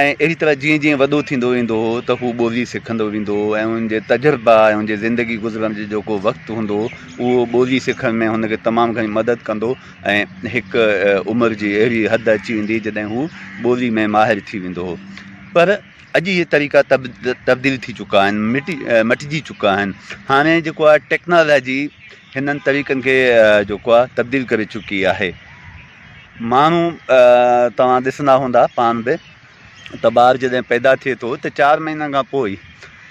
۽ اهڙي طرح جيئن جيئن وڏو ٿيندو ويندو هو ته هو ٻولي سکندو ويندو هو ۽ ان جي تجربا ۽ ان جي زندگي گذرڻ جو جيڪو وقت هوندو هو اهو ٻولي سکڻ ۾ هن کي تمام گهڻي مدد ڪندو ۽ هڪ عمر جي اهڙي حد اچي ويندي جڏهن هو ٻولي ۾ ماهر ٿي ويندو هو پر اڄ اهي طريقا تبديل ٿي چڪا آهن مٽي مٽجي چڪا آهن هاڻي جيڪو آهي ٽيڪنالاجي هنن طريقن کي جيڪو آهي تبديل ڪري چڪي آهي ماڻهو توهان ڏسندا هوندا پاڻ به ته ٻار جڏهن پيدا ٿئي ٿو ته چار مهينن کان پوء ئي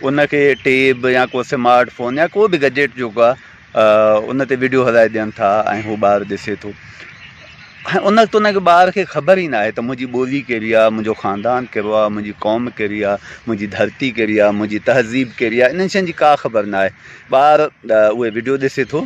ان کي ٽيب يا ڪو سمارٽ فون يا ڪو به گجيٽ جيڪو آهي ان تي ويڊيو هلائي ڏين ٿا ۽ هو ٻار ڏسي ٿو ۽ ان وقت ان کي ٻار کي خبر ئي ناهي ته منهنجي ٻولي ڪهڙي آهي منهنجو خاندان ڪهڙو آهي منهنجي قوم ڪهڙي آهي منهنجي ڌرتي ڪهڙي آهي منهنجي تهذيب ڪهڙي آهي انهن شين جي ڪا خبر ناهي ٻار اهي ويڊيو ڏسي ٿو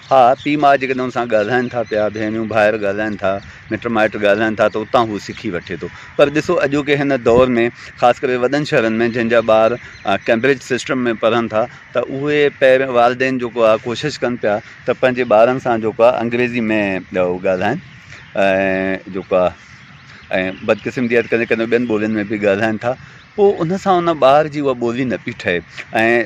ها، پيء ماء جيڪڏهن هن سان ڳالهائين ٿا پيا، ڀينريون ڀائر ڳالهائين ٿا، مٽ مائٽ ڳالهائين ٿا ته اتان هو سکي وٺي ٿو. پر ڏسو اڄوڪي هن دور ۾ خاص ڪري وڏن شهرن ۾ جن جا ٻار ڪئمبرج سسٽم ۾ پڙهن ٿا ته اهي پيرين والدين جيڪو آهي ڪوشش ڪن پيا ته پنهنجي ٻارن سان جيڪو آهي انگريزي ۾ ڳالهائين ۽ جيڪو آهي ۽ بدقسمتي آهي ته ڪڏهن ڪڏهن ٻين ٻولين ۾ به ڳالهائين ٿا پوء ان سان ان ٻار جي اها ٻولي نه پئي ٺهي ۽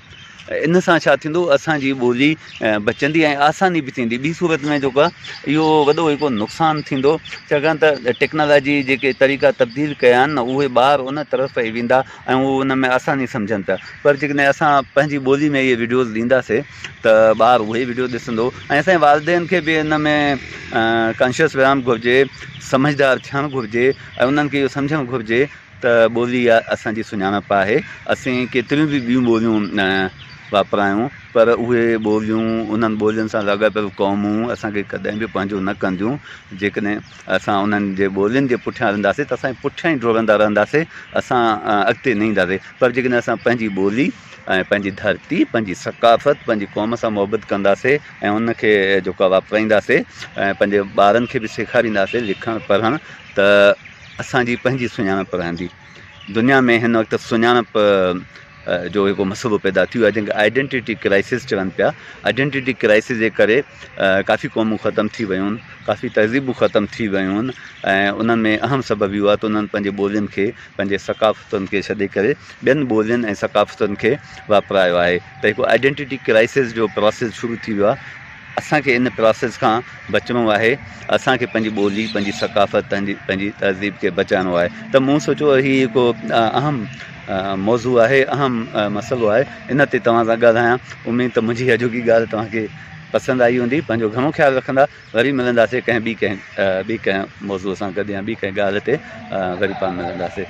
ان سان ڇا ٿيندو اسان جي ٻولي بچندي ۽ آساني به ٿيندي ٻي صورت ۾ جيڪو آهي اهو وڏو هڪ نقصان ٿيندو ڇاڪاڻ ته ٽيڪنالاجي جيڪي طريقا تبديل ڪيا آهن نه اهي ٻار ان طرف پئي ويندا ۽ هو ان ۾ آساني سمجهن پيا پر جيڪڏهن اسان پنهنجي ٻولي ۾ اهي ويڊيوز ڏينداسي ته ٻار اهي ئي ويڊيو ڏسندو ۽ اسان جي والدين کي به ان ۾ ڪانشيس رهڻ گهرجي سمجهدار ٿيڻ گهرجي ۽ انهن کي اهو سمجهڻ گهرجي ته ٻولي اها اسان جي سڃاڻپ آهي. اسين ڪيتريون به ٻيون ٻوليون واپرايون پر اهي ٻوليون، انهن ٻولين سان لاڳاپيل قومون اسان کي ڪڏهن به پنهنجو نه ڪنديون. جيڪڏهن اسان انهن جي ٻولين جي پٺيان هلنداسين ته اسان جي پٺيان ئي ڊوڙندا رهنداسين، اسان اڳتي نه اينداسين پر جيڪڏهن اسان پنهنجي ٻولي ۽ پنهنجي ڌرتي، پنهنجي ثقافت، پنهنجي قوم سان محبت ڪنداسين ۽ ان کي جيڪو آهي واپرائينداسين ۽ پنهنجي ٻارن کي به سيکارينداسين لکڻ پڙهڻ ته اسان جي پنهنجي سڃاڻپ رهندي. دنيا ۾ هن وقت سڃاڻپ جو هڪ مسئلو پيدا ٿي ويو آهي جنهن کي آئيڊينٽيٽي ڪرائسز چون پيا. آئيڊينٽيٽي ڪرائسز جي ڪري ڪافي قومون ختم ٿي ويون، ڪافي تهذيبون ختم ٿي ويون ۽ انهن ۾ اهم سبب اهو آهي ته انهن پنهنجي ٻولين کي، پنهنجي ثقافتن کي ڇڏي ڪري ٻين ٻولين ۽ ثقافتن کي واپرايو آهي ته هڪ آئيڊينٽيٽي ڪرائسز جو پراسز شروع ٿي ويو آهي. اسان کي ان پراسيس کان بچڻو آهي اسان کي پنهنجي ٻولي پنهنجي ثقافت پنهنجي تهذيب کي بچائڻو آهي ته مون سوچو هي هڪ اهم موضوع آهي اهم مسئلو آهي ان تي توهان سان ڳالهايان اميد ته منهنجي اڄوڪي ڳالهه توهان کي پسند آئي هوندي پنهنجو گهڻو خيال رکندا وري ملنداسي ڪنهن ٻي ڪنهن ٻي ڪنهن موضوع سان گڏ يا ٻي ڪنهن ڳالهه تي وري پاڻ ملنداسي